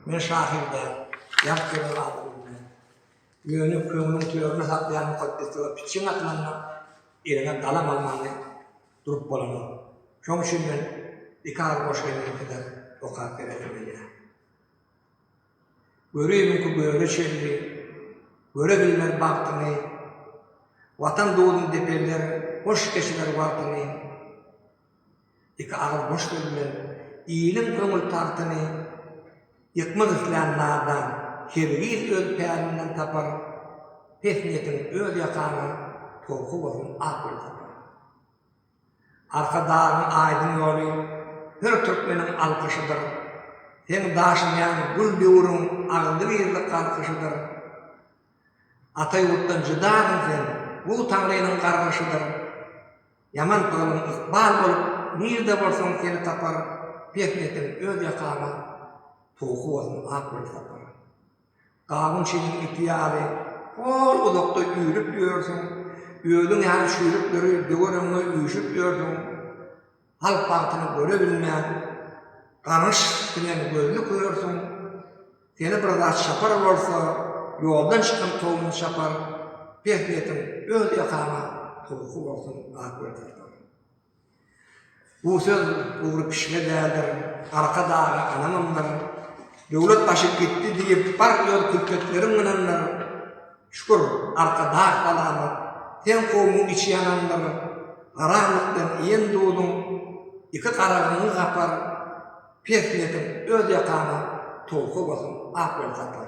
Men şahyr däl, ýat ýören adam bilmez. Ýöne köňlüň törüne saklan mukaddeslige pitjeň atylanda eliňe galam almaly durup bolanok. Şoň üçin men iki agyz goşgyny biderek okap beresim gelýär. Görübiňki göle çenli, göre bilmez bagtyňy, Watan duduň depeller, hoş geçirer wagtyňy. Iki agyz boş söz bilen iliň köňül tagtyny ýykmak islän nadan hergiz öz pälinden tapar, pes niýetiň öz ýakaňa towky bolsun ak gül sapar. Arkadagyň aýdyň ýoly her türkmeniň alkyşydyr, seň daşynýan gül döwrüň agzygizli galkyşydyr. Ata ýurtdan jydagyň sen, bu Taňrynyň gargyşydyr. Ýaman pyglyň ykbal bolup nirde bolsaň seni tapar Pehletin öz ýakaňa puhy bolsun ak gül sapar Gawun şiliň ipi ýaly hol uzakda üýrüp ýörsüň Özüň ýaly çüýrükleri döwer öňňe üýşüp ýörsüň Halk bagtyny göre bilmän gaňyş siňen gözli körsüň. Seni bir zat çapar bolsa, ýoldan çykan towuny çapar, peh netin öz ýakaňa towusy bolsun Akgözeltan. Bu söz Ugry pişige däldir, Arka daga anamyndyr. Döwlet gaçyp gitdi diýip bar öz külpetleriň mynandyr. Şükür, Arka dag salamat, seň kowumyň içi ýanandyr. Garamlykdan iýen duzuň iki garagyňy gapar. Pes ýetim öz ýakaňa towuk owasyň ak ýol tapar.